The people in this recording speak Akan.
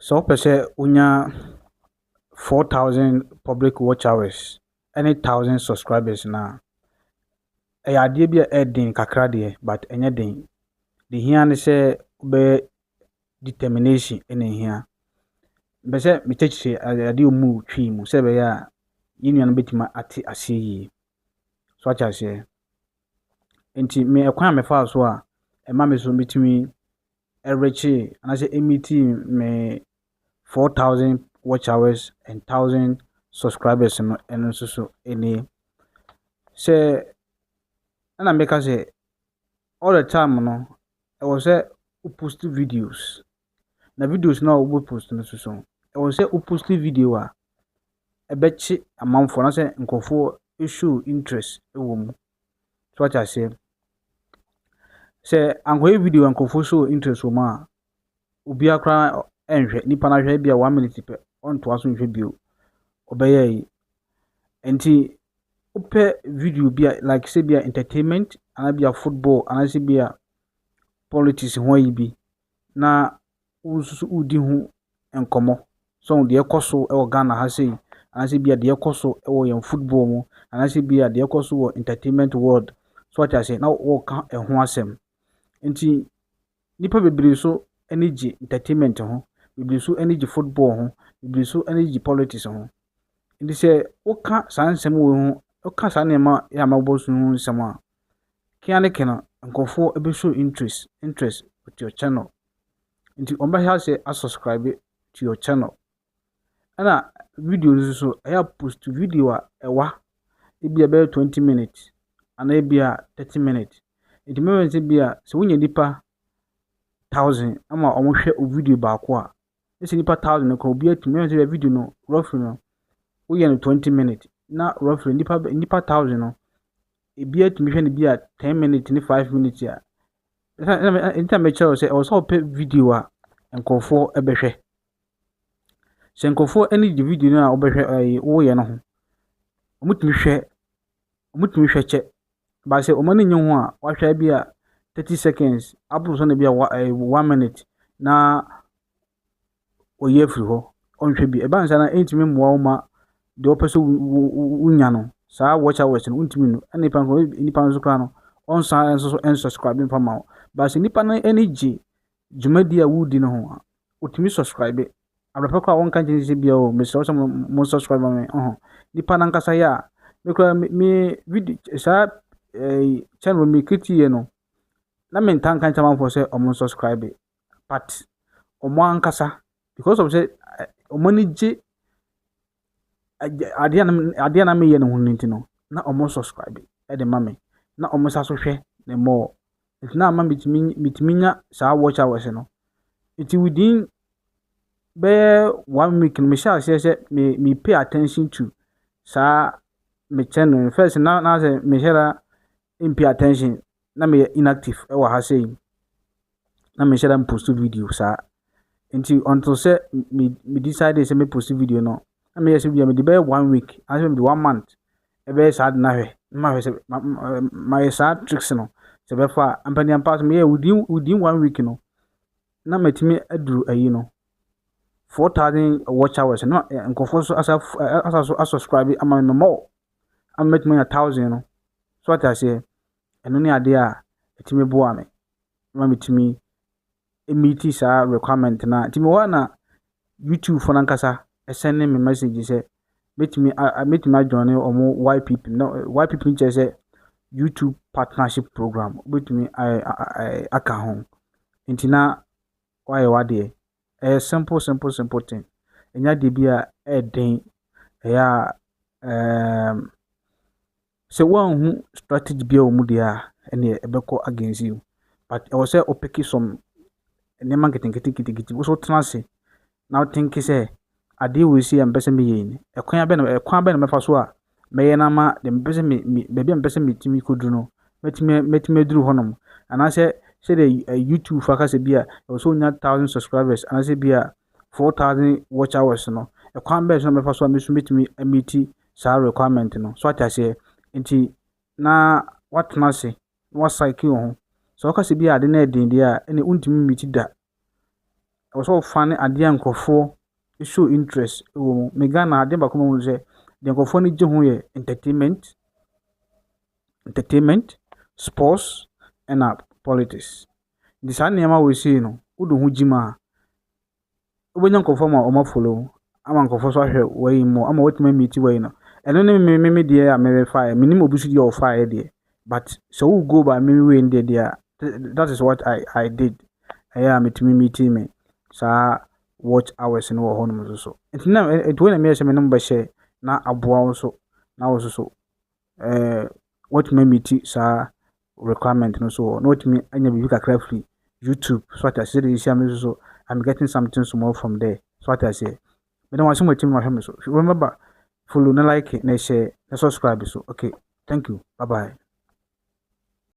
Sɛ wopɛ sɛ wonya 4,000 public watch hours ne 1,000 subscribers no a, ɛyɛ adeɛ bi a ɛyɛ den kakra deɛ, but ɛnyɛ den. Deɛ ɛhia ne sɛ wobɛyɛ determination na ɛhia. Mepɛ sɛ mekyɛkyerɛ ade- adeɛ a wɔmu twi mu sɛ ɛbɛyɛ a yɛn nuanom bɛtumi ate aseɛ yie. So wate aseɛ? Nti me ɛkwan a mefaa so a ɛma me so metumi ɛrekyee anaasɛ ɛmitii me 4000 watch hours and 1000 subscribers no ɛno nso so ɛni sɛ ɛna meka sɛ all the time no ɛwɔ sɛ wo post videos na videos no a wobɛ post no so so ɛwɔ sɛ wo post video a ɛbɛkye amanfoɔ anaasɛ nkurɔfoɔ show interest ɛwɔ mu So wate aseɛ? Sɛ ankɔyɛ video a nkurɔfoɔ show interest wɔ mu a, obiara koraa nhwɛ. Nipa no ahwɛ ebi a one minute pɛ, ɔntoa so nhwɛ bio. Ɔbɛyɛ yi. Nti wopɛ video bi a like sɛ bi a entertainment anaa bi a football anaasɛ bi a politics ho ayi bi na wo nso so wodi ho nkɔmmɔ. So deɛ ɛkɔ so wɔ Ghana ha sei, anaasɛ bia deɛ ɛkɔ so wɔ yɛn football mu, anaasɛ bia deɛ ɛkɔ so wɔ entertainment world, so wate aseɛ, na wɔka ɛho asɛm. Nti, nnipa bebree so ani gye entertainment ho, bebree so ani gye football ho, bebree so ani gye politics ho. Nti sɛ woka saa nsɛm wei ho, woka saa nneɛma yɛ a mabɔ so ho nsɛm a, Kena ne kena nkorɔfoɔ bɛ show interest interest with your channel nti wɔn bɛ hyɛ aseɛ a subscribe to your channel ɛna video no nso ɛyɛ a post video a ɛwa ebi a ɛbɛyɛ twenty minutes anaa ebi a thirty minutes nti mɛmɛ sɛ bi a sɛ wonya nipa thousand ama wɔn hwɛ video baako a ɛsɛ nipa thousand kɔ obi atumi ɛsɛ sɛ video no roughly no woyɛ no twenty minutes na roughly nipa nipa thousand no ebi atumi hwɛ no bi a ten minutes ne five minutes a ɛsɛ ɛsɛ ɛsɛ mɛkyerɛ sɛ ɔsɛ ɔpɛ video a nkurɔfoɔ ɛbɛhwɛ sɛ nkurɔfoɔ ɛne gye video no a ɔbɛhwɛ ɛyi woyɛ no ho wɔtumi hwɛ wɔtumi hwɛ kyɛ. But sɛ wɔn ani nnye ho a, wɔahwɛ a ebia thirty seconds aboro so no ebia wa ɛɛ one minute na wayi afiri hɔ, ɔnhwɛ bio. Ɛba no saa no a, ɛntumi mmoa wo mma deɛ wopɛ sɛ wo wo wonya no, saa watch hours no, wontumi nnu. Ɛna nipa nso nipa nso koraa no, ɔnsan nso so ɛnsubscribe mfa mma wo. But sɛ nipa no ani gye dwumadie a woredi no ho a, wɔtumi subscribe. Abrɛpɛ koraa wɔnka nkyɛn sɛ bia o mesrɛ sɛ mo subscribe ma me ɔho. Nipa no ankasa yɛ a, me koraa me video saa eh, channel me create no, na me ntaa nka nkyɛn amanfoɔ sɛ wɔn subscribe. But wɔn ankasa, because of sɛ wɔn ani gye adeɛ a na adeɛ a na meyɛ no ho no nti no, na wɔsubscribe de ma me, na wɔsan nso hwɛ me more. Nti na ama metumi metumi nya saa watch hours no. Nti within bɛyɛ one week no, mehyɛɛ aseɛ sɛ me me pay attention to saa me channel no. First no, na na sɛ menhyɛ da in pay attention na meyɛ inactive wɔ ha sei na menhyɛ da mpost video saa nti until sɛ me me decide sɛ me post video no na meyɛ sɛ bia mede bɛyɛ one week anaasɛ mede one month ɛbɛyɛ saa de no ahwɛ na mahwɛ sɛ mayɛ saa tricks no sɛ bɛfa a ampaniampa so meyɛ within within one week no na matumi aduru ayi no four thousand watch hours na nkurɔfoɔ so asa asa so asubscribe ama me more a mɛtumi anya thousand no, so wate aseɛ, ɛno ne adeɛ a ɛtumi boa me ma metumi meeti saa requirement no a, nti mewɔ hɔ a na YouTube foɔ no ankasa ɛsɛne me message sɛ mɛtumi a mɛtumi adwane wɔn YPP no YPP no kyerɛ sɛ YouTube partnership program wobɛtumi ayɛ aka ho nti na woayɛ w'adeɛ. ɛyɛ simple simple simple thing. Ɛnyɛ adeɛ bi a ɛyɛ den. Ɛyɛ a ɛɛm, sɛ woanhu strategy biara wɔ mu deɛ a, ɛnneɛ ɛbɛkɔ against you. But ɛwɔ sɛ wopeke some nneɛma nketenkete nketenkete. Wo nso wotena ase na wotink sɛ adeɛ wei sei a mepɛ sɛ meyɛ yi no, ɛkwan bɛn na ɛkwan bɛn na mɛfa so a mɛyɛ no ama deɛ mepɛ sɛ me me baabi a mepɛ sɛ metumi kɔduru no mɛtumi mɛtumi aduru hɔnom anaasɛ sɛdeɛ YouTube fa ka sɛ bi a ɛwɔ sɛ ɔnya thousand subscribers anaasɛ bi a four thousand watch hours no ɛkwan bɛn so na mɛfa so a me nso mɛtumi amiti saa requirement no so ate aseɛ nti na watena ase na wasaeke wo ho sɛ ɔka sɛ bi a ade no ɛden deɛ a ɛnna wontumi mmiti da ɛwɔ sɛ ɔfa ne adeɛ a nkurɔfoɔ show interest wɔ mu. Me Ghana ha, adeɛ baako ma wɔn sɛ deɛ nkurɔfoɔ ani gye ho yɛ entertainment, entertainment, sports ɛna politics. Nti saa nneɛma wei sei no, wode wo ho gye mu a, wobɛnya nkurɔfoɔ ama wɔn afolo wo, ama nkurɔfoɔ nso ahwɛ w'ayi mu, ama woatumi amiti w'ayi no. Ɛno ne me me me deɛ a merefaeɛ. Menim obi nso deɛ ɔfaeɛ deɛ, But sɛ wo go by me way no deɛ deɛ that is what I, I did. Ɛyɛ a metumi meeting me saa watch hours no wɔ hɔnom nso so. Nti na ɛti wei na meyɛ sɛ me ne mo bɛhyɛ na aboa wo nso na wo nso so ɛɛ watumi amiti saa requirement no so wɔ na watumi anya biribi kakra firi YouTube so ate aseɛ de ehyia me nso so I'm getting something small from there so ate aseɛ Meda mo ase mo atim ahwɛ me so. Remember follow na like na share na subscribe so. Okay, thank you. Bye bye.